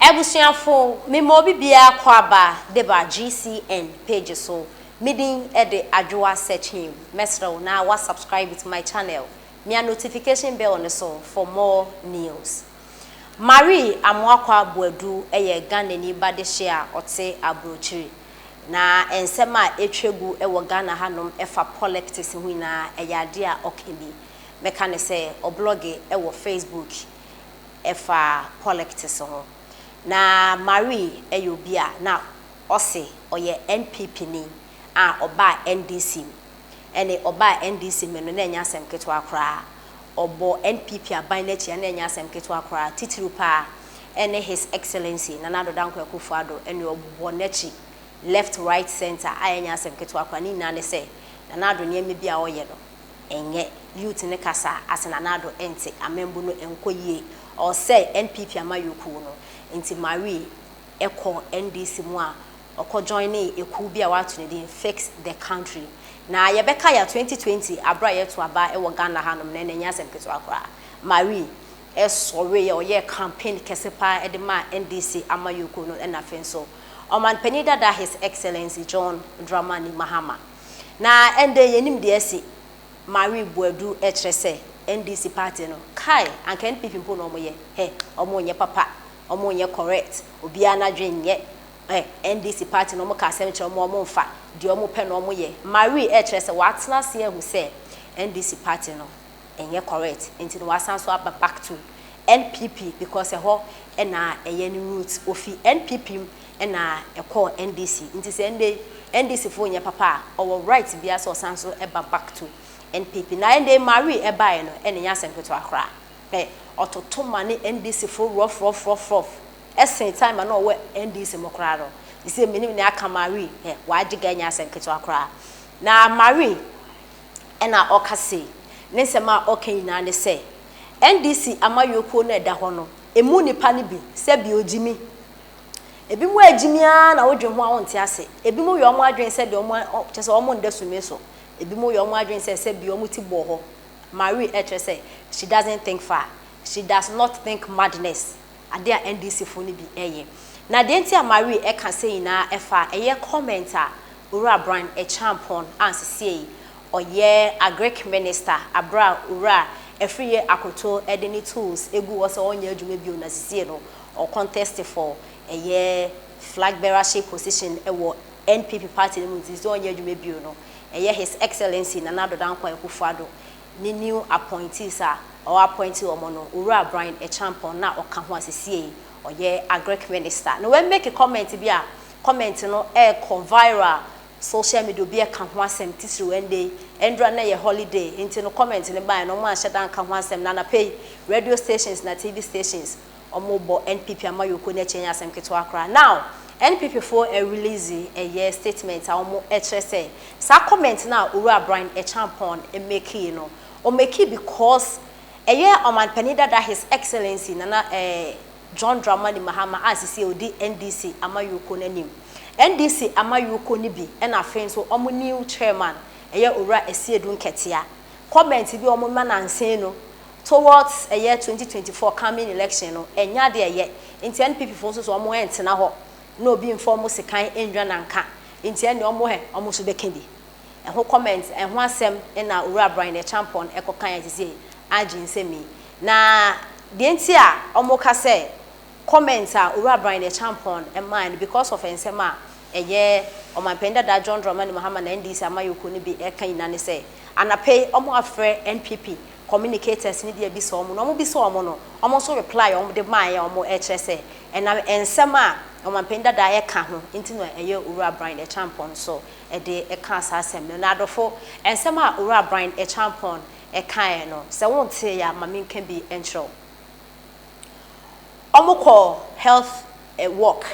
Abusuafo, mema obi biara kɔ aba de ba GCN page so, me din de Adwoa Sekyim. Mɛsrɛw na wa subscribe to my channel, mia notification bell no so for more news. Marie Amoakwa Boadu yɛ Ghanani ba dehye a ɔte Abrokyiri. Na nsɛm a ɛtwa gu wɔ Ghana hanom ɛfa poliptics ho nyinaa ɛyɛ adeɛ a ɔka bi. Mɛka no sɛ ɔblɔge wɔ Facebook ɛfa pɔlɛktis ho. Na Marie yɛ obi a na ɔse ɔyɛ NPP ni a ɔbaa NDC mu. Ɛne ɔbaa NDC mu no na ɛnyɛ asɛm ketewa koraa. Ɔbɔ NPP aban no akyi a na ɛnyɛ asɛm ketewa koraa. Titiriw paa ɛne His Excellency Nana Addo Dankwa Akuffo Addo ɛne ɔbɔ n'akyi left, right, centre a ɛnyɛ asɛm ketewa koraa. Ne nyinaa ne sɛ Nana Addo nneɛma bi a ɔyɛ no ɛnyɛ youth no kasa ase na n'ado nte amambu no nkɔ yie ɔresɛe NPP amayɔkuo no nti Marie kɔ NDC mu a ɔkɔ joinee ekuo bi a w'ato ne din fix the country na yɛbɛka ya 2020 aberɛ a yɛto aba wɔ Ghana ha nom no ɛnɛ ɛnyɛ asɛm ketewa koraa Marie sɔreeɛ ɔyɛɛ campaign kɛse paa de maa NDC amayɔkuo no ɛna afei nso Ɔmanpanin dada His Excellency John Dramani Mahama. Na ɛnde yɛnim deɛ asi Marie Boadu ɛkyerɛ sɛ NDC party no kai anka NPP mpo na wɔyɛ hɛ wɔn nyɛ papa wɔn nyɛ correct obiara nadwen nyɛ hɛ NDC party na wɔn ka asɛm kyerɛ wɔn wɔn nfa deɛ wɔn pɛ na wɔn yɛ Marie ɛkyerɛ sɛ watena aseɛ ahu sɛ NDC party no ɛnyɛ correct nti na wasan so aba back to NPP because ɛhɔ na ɛyɛ ne root. Ofi NPP mu na ɛkɔɔ NDC nti sɛ ɛndɛ yi NDC foɔ nyɛ papa a ɔwɔ right biara sɛ ɔsan so ba back to NPP. Na ɛndɛ yi Marie ɛbaeɛ no ɛna ɛnyɛ asɛm ketewa koraa. Hwɛ ɔtoto ma ne NDC foɔ rɔfrɔfrɔfrɔf ɛsen time a na ɔwɔ NDC mu koraa no. Seisei mennim nea aka Marie hwɛ w'agye ga ɛnyɛ asɛm ketewa koraa. Na Marie. ɛna ɔka sei, ne nsɛm a ɔka nyinaa ne sɛ NDC amayɔkuo no a ɛda hɔ no, ɛmu nnipa no bi, sɛbi ɔgyimi. Ɛbinom a ɛgyimi ara na wodwen ho a wonte ase. Ɛbinom yɛ wɔn adwene sɛ deɛ wɔn, kyerɛ sɛ wɔn nda sumii so. Ɛbinom yɛ wɔn adwene sɛ sɛbi wɔn ti bɔɔ hɔ. Marie ɛkyerɛ sɛ, she doesn't think far, she does not think madness. Ade a NDC fo no bi yɛ. Na deɛ nti a Marie ka sei nyinaa ɛfa ɛyɛ comment a Owura Bran Akyeampong a sesiei ɔyɛ Agric Minister aberɛ a Owura Afriyie Akoto de ne tools gu hɔ sɛ ɔnyɛ adwuma bio na sesiei no ɔ contest for ɛyɛ Flag Bearership position wɔ NPP party no mu nti sɛ ɔnyɛ adwuma bio no ɛyɛ His Excellency Nana Addo Dankwa Akufo-Addo ne new appointees a ɔɔ appoint wɔn no, Owura Brian Acheampong na ɔka ho a sesiei ɔyɛ Agric Minister no wɛ make comment bi a comment no ɛɛkɔ viral social media obi ɛka ho asɛm titiriw ɛnde yi ɛndura no ɛyɛ holiday nti no comment no baeɛ no wɔn anhyɛda anka ho asɛm na anapa yi radio stations na TV stations Ɔmo bɔ NPP amayɔkuo no akyi ɛnyɛ asɛm ketewa koraa. Now NPP foɔ ɛrelease ɛyɛ statement a ɔmo ɛkyerɛ sɛ saa comment no a Owura Brian Acheampong mekii no ɔmekii because ɛyɛ Ɔmanpanin dada His Excellency Nana eh John Dramani Mahama a sesie ɔdi NDC amayɔkuo no anim. NDC amayɔkuo no bi ɛna afei nso ɔmo new chairman ɛyɛ Owura Asiedu Nkɛtea comment bi a ɔmo ma nansee no Towards ɛyɛ twenty twenty four coming election no ɛnyɛ ade a ɛyɛ nti NPP foɔ nso so wɔn ɛntena hɔ na obi nfa wɔn sekan nnwa nanka nti ɛnneɛ wɔn hɛ wɔn nso bɛka bi ɛho comment ɛho asɛm ɛna Owura Brian Acheampong ɛkɔ kaeɛ te sɛ agye nsɛm yi na deɛ nti a wɔn ka sɛ comment a Owura Brian Acheampong ɛmaaɛ no because of ɛnsɛm a ɛyɛ Ɔmanpanin dada John Dramani Mahama na NDC amayɔkuo no bi ɛka nyinaa ne sɛ anapa yi wɔn afrɛ NPP communicators no bi abisa wɔn na wɔbisa wɔn no wɔn nso reply a wɔde maayɛ wɔn ɛkyerɛ sɛ ɛnam nsɛm a ɔmanpanin dadaa ɛka ho nti na ɛyɛ Owura Bryan Acheampong nso ɛde ɛkaa saa asɛm no na adɔfo nsɛm a Owura Bryan Acheampong ɛkaeɛ no sɛ wo nteeɛ a ma menka bi nkyerɛ wo wɔn kɔ health walk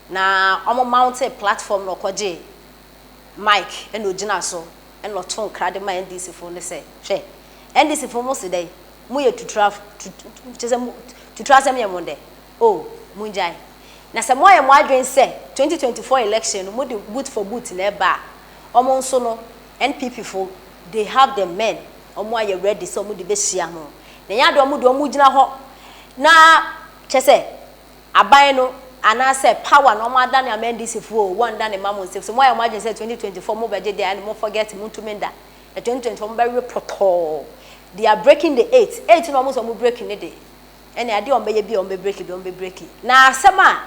na wɔn mounted platform na ɔkɔgyee mic ɛna ɔgyina so ɛna ɔtoo nkra de maa NDC foɔ no sɛ, hwɛ, NDC foɔ mo se dɛn, mo yɛ tutrafo, tut, kyerɛ sɛ mo, tuturo asɛm yɛ mo dɛ, oh, mo ngyae. Na sɛ mo ayɛ mo adwene sɛ 2024 election no mo de boot for boot na ɛba a, wɔn nso no, NPP fo, they have the men, wɔn ayɛ ready sɛ wɔn de bɛhyia mo. Na ɛnyɛ adeɛ wɔn deɛ wɔn gyina hɔ na, kyerɛ sɛ, Aban no anaasɛ power no ɔmo adane ama NDC foɔ oo wɔn dane mma mo nsɛm so mo ayɛ mo adwene sɛ 2024 mo bɛgye dea ɛne mo forget mo ntumi nda na 2024 mo bɛwe pɔtɔɔ they are breaking the eight eight no ɔmo sɛ ɔmo break ne de ɛne adeɛ ɔmo bɛyɛ biaa ɔmo bɛ break bi ɔmo bɛ break na asɛm a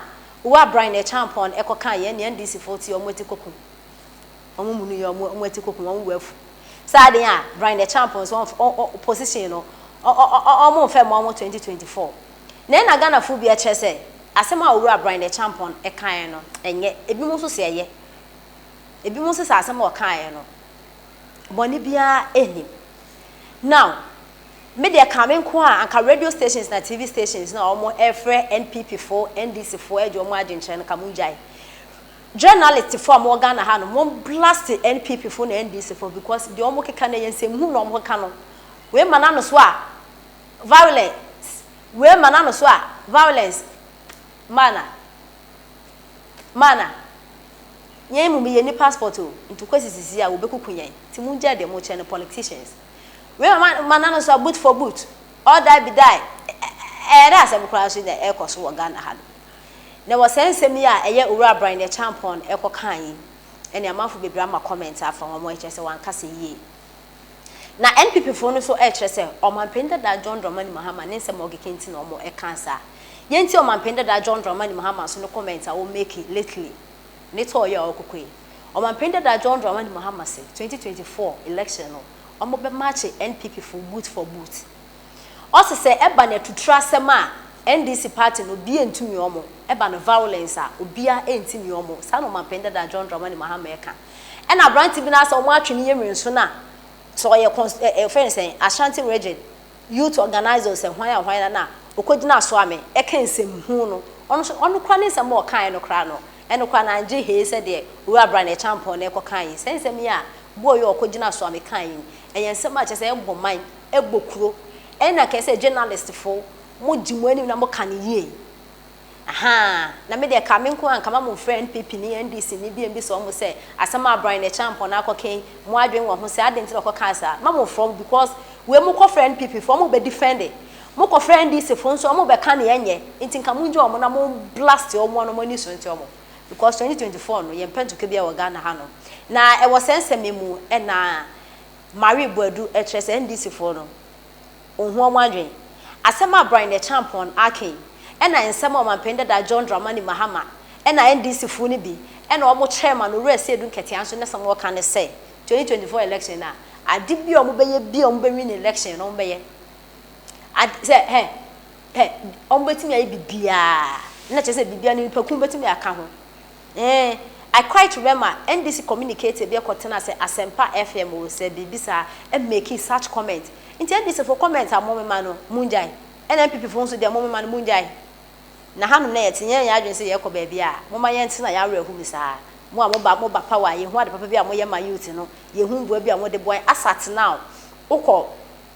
Owura Brian Acheampong no ɛkɔ kaa yɛn nea NDC foɔ teɛ ɔmo ati kokum ɔmo munu yɛ ɔmo ɔmo ati kokum ɔmo wɔ afu saa adeɛ a Brian Acheampong so ɔmf ɔ ɔ position no ɔ ɔ ɔ ɔmo nfɛ mma ɔmo 2024 Na ɛna Ghanafoɔ bi kyerɛ sɛ asɛm a Owura Brian Acheampong kaeɛ no ɛnyɛ, ebinom nso se ɛyɛ. Ebinom se saa asɛm a ɔkaeɛ no bɔne biara nnim. Now, me deɛ ɛkaa me nko a, anka radio stations na TV stations no a wɔfrɛ NPP foɔ, NDC foɔ agye wɔn adwenkyerɛ no, anka mongyae. Journalist foɔ a wɔwɔ Ghana ha no, mo blast NPP foɔ ne NDC foɔ because deɛ wɔkeka no ɛyɛ nsɛmhunu na wɔkeka no. Wei ma n'ano so a, Violence, wee ma n'ano so a, violence, mana, mana, yɛn mmom yɛnni passport o, nti kɔsi sisi a wɔbɛkuku yɛn, nti mongyae deɛ mokyerɛ no politicians, wei ma ma n'ano so a, boot for boot, all die be die, ɛyɛ dɛ asɛm koraa nso na ɛrekɔ so wɔ Ghana ha no, na wɔ saa nsɛm yi a ɛyɛ Owura Abrane Acheampong ɛkɔkaa yi, ɛne amanfo bebree ama comment afa ho, wɔn ani kyerɛ sɛ wɔankasa yie. Na NPP foɔ no so ɛɛkyerɛ sɛ Ɔmanpanin dadaa John Dramani Mahama ne nsɛm a ɔkeka nti na wɔn ɛkaa saa. Yɛn nti Ɔmanpanin dadaa John Dramani Mahama nso ne comment a ɔmake lately ne tɔɔ yɛ a ɔɔkokɔ yi. Ɔmanpanin dadaa John Dramani Mahama se 2024 election no wɔn bɛ marche NPP foɔ boot for boot. Ɔse sɛ ɛba no atuturo asɛm a NDC party no obiaa ntumi wɔn, ɛba no violence a obiaa ɛntimi wɔn, saa na Ɔmanpanin dadaa John Dramani Mahama ɛka. Ɛna aberante bi no ara sɛ wɔatwe ne yɛnwene so no a, sɛ ɔyɛ cons ɛ ɛ wɔfrɛ no sɛn, Ashanti Region Youth Organiser o, sɛ hwan a hwan a no a, ɔkɔgyina so a me ɛka nsɛm huu no. Ɔno nso, ɔno koraa ne nsɛm a ɔkaeɛ no koraa no, ɛno koraa no anngye hee sɛ deɛ Owura Bryan Acheampong no ɛkɔkaeɛ yi. Saa nsɛm yi a boɔ yi a ɔkɔgyina so a me kaeɛ yi, ɛyɛ nsɛm a kyerɛ sɛ ɛbɔ man, ɛbɔ kuro. Ɛna kɛsɛ journalistfoɔ, mogye mo anim na moka no yie. Ahaa na me deɛ ɛkaa me nko a nka ma mo nfrɛ NPP ni NDC ni bio mbisa ɔmo sɛ asɛm a Brian Acheampong no akɔ kɛn mo adwen wɔ ho sɛ adɛn nti na ɔkɔ kaa saa ma mo frɛ ɔmo because wei mo kɔ frɛ NPP foɔ ɔmo bɛ defende mo kɔ frɛ NDC foɔ nso ɔmo bɛ ka nea ɛnyɛ nti nka mo ngye ɔmo na mo blast ɔmo na ɔmo ani so nte ɔmo because 2024 no yɛn pɛ ntɔkwa biara wɔ Ghana ha nom na ɛwɔ sɛ nsɛm yi mu ɛna Marie Boadu ɛkyerɛ sɛ NDC foɔ no. Onhua ho adwene. Asɛm a Brian Acheampong aka yi na nsɛm a Ɔmanpanin dada John Dramani Mahama na NDC foɔ no bi na wɔn kyerɛɛ ma no Owura Seidu Nketia nso ne sɛm ɔka ne sɛ 2024 election no a ade bi a wɔn bɛyɛ bi a wɔn bɛ win election no wɔn bɛyɛ ade sɛ hɛ hɛ wɔn bɛtumi ayɛ bibiaa na kyerɛ sɛ bibiaa no nipa kun bɛtumi aka ho. Eeh I quite remember NBC communicator bi kɔ tena sɛ Asempa FM o sɛ biribi saa ɛ makee such comment nti NBC fo comment a mo me ma no mo ngyae ɛna NPP fo nso deɛ mo me ma no mo ngyae na hanom na yɛte nyɛ yɛ adwene sɛ yɛkɔ baabi a mo ma yɛn tena yɛ awerɛ ho mu saa mo a mo ba mo ba power yɛ hu ade papa bi a mo yɛ ma youth no yɛ hu mboa bi a mo de boa yɛ asat now wo kɔ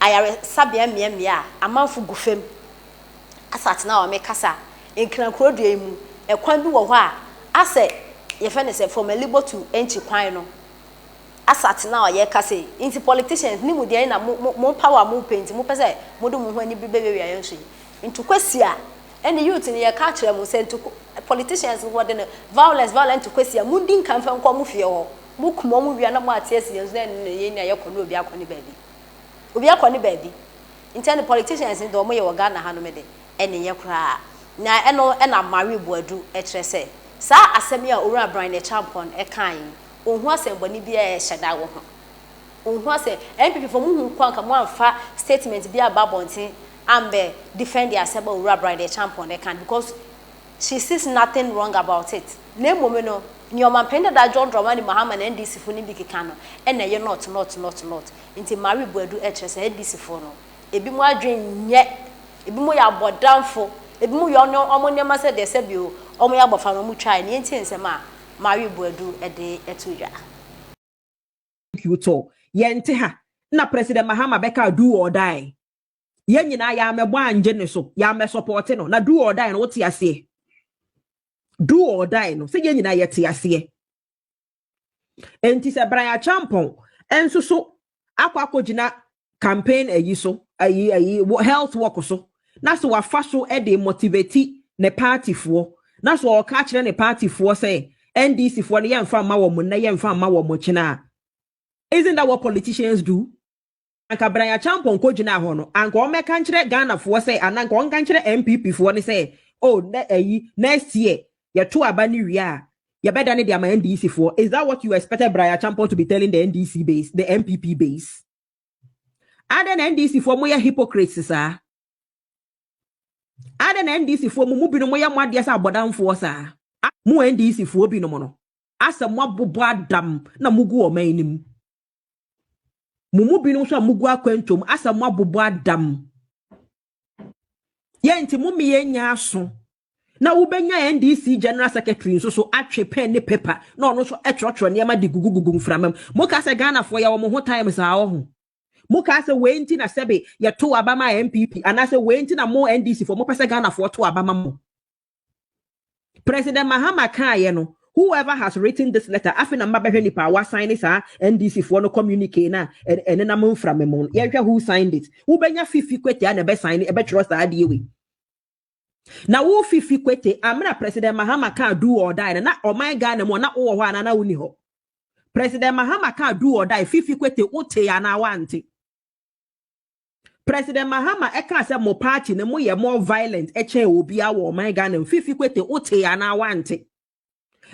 ayare sabea mmea mmea a amanfo gu fam asɛ atena hɔ a mekasa a, Nkrankura dua yi mu, ɛkwan bi wɔ hɔ a asɛ yɛfrɛ no sɛ from Alibo to Enchi kwan no, asɛ atena hɔ a yɛka sei, nti politicians ne mu deɛn na mo mo mo power a mopɛ nti mopɛ sɛ mode mo ho ani bɛwiawia yɛn so yi? Nto Kwesi a ɛne youth no yɛka akyerɛ mo sɛ nto politicians no wɔde no violence violence nto Kwesi a mondi nka mfa nkɔ mo fie hɔ, mokum wɔn wia na moate asi yɛn so na ɛno na ɛyɛ nea yɛkɔ na obi akɔ ne baabi. Obi akɔ ne baabi. Nkyɛ no politicians no dɛ ɔmo yɛ wɔ Ghana ha no me de ɛne nyɛ koraa. Na ɛno na Marie Boadu ɛkyerɛ sɛ saa asɛm yi a Owura Bryan Acheampong ɛkaa yi ɔnhu asɛnbɔne biara a ɛhyɛ da wɔ ho. Ɔnhu asɛ NPP foɔ mo hu kwan nka mo anfa statement bi aba abɔnten ambɛ defend asɛm a Owura Bryan Acheampong ɛka no because she sees nothing wrong about it. Na mmom no nea Ɔmanpanin dada John Dramani Mahama ne NDC foɔ no bi keka no ɛna ɛyɛ not not not not. Ntsi ma we buadu kyerɛ saa Edisifo no, binom adwen nnyɛ, binom yɛ abɔdamfo, binom yɛ wɔn wɔn nneɛma sɛ deɛ sɛ bio wɔyɛ abɔfra na wɔn twae, nea nti nsɛm a ma we buadu de to dwa. Thank you to yɛnte ha na president Mahama bɛkaa do or die yɛn nyinaa yɛammɛbɔ angye ne so yɛammɛ support no na do or die no wote aseɛ do or die no sɛ yɛn nyinaa yɛte aseɛ. nti sɛ brian champon nso so akɔ akɔgyina campaign ayi so ayi ayi health work so na so wafa so de motivate ne partyfoɔ na so ɔka akyerɛ ne partyfoɔ sɛ ndc foɔ no yɛmfa mma wɔn nnɛ yɛmfa mma wɔn kyena isn't that what politicians do Anka Brian Acheampong kɔgyinaa hɔ no, anka ɔmmɛka nkyerɛ Ghanafoɔ sɛ, anaa anka ɔnka nkyerɛ NPP foɔ no sɛ, oh, nɛ ayi, next year, yɛto aba no wie a, yɛbɛdane de ama NDC foɔ. Is that what you expected Brian Acheampong to be telling the NDC base, the NPP base? Adɛn na NDC foɔ moyɛ hypocrites saa? Adɛn na NDC foɔ mo mu binom moyɛ mo adeɛ sɛ abɔdamfoɔ saa? Mo NDC foɔ binom no, asɛ moabobɔ adam na mogu ɔman no mu. Mo mu binom nso a mugu akwantu mu asɛ moabobɔ adam. Yɛn nti mo mmea nya aso na wobɛnya NDC general secretary nso so atwe pen ne paper na ɔno nso ɛtwerɛtwerɛ nneɛma de gugugugu mframa mu. Mo kaa sɛ Ghanafoɔ yɛwɔ mo ho time saa wɔ ho. Mo kaa sɛ wei nti na sɛbe yɛto aba ma NPP anaasɛ wei nti na mo NDC foɔ mopɛ sɛ Ghanafoɔ to aba ma mo. President Mahama kaeɛ no, whoever has written this letter, afei na mabɛhwɛ nipa a wasan ne saa NDC foɔ no communique no a ɛnenam mframa mu no, yɛnhwɛ who signed it. Wobɛnya Fifi Kwete a na ɛbɛsan ne ɛbɛtwerɛ saa adeɛ wei. Na wo Fifi Kwete, amena President Mahama ka do or die no, na ɔman Ghana mu a na wowɔ hɔ anaa na wonni hɔ? President Mahama ka do or die, Fifi Kwete, wotee anaa woante? President Mahama ɛkaa sɛ mo party no moyɛ more violent ɛkyɛn obiara wɔ ɔman Ghana mu, Fifi Kwete wotee anaa wante?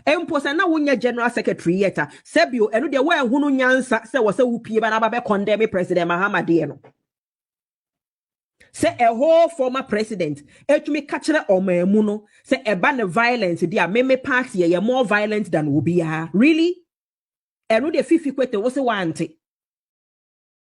Mpo sɛ na wonyɛ general secretary yet a, sɛbio ɛno deɛ woanhunu nyansa sɛ wɔsɛ wopie ba na aba bɛ condemn President Mahama deɛ no. Sɛ a whole former president ɛtumi ka kyerɛ ɔman mu no sɛ ɛba ne violence deɛ a me me party ɛyɛ more violent than obiara, really? Ɛno deɛ Fifi Kwete wose wante?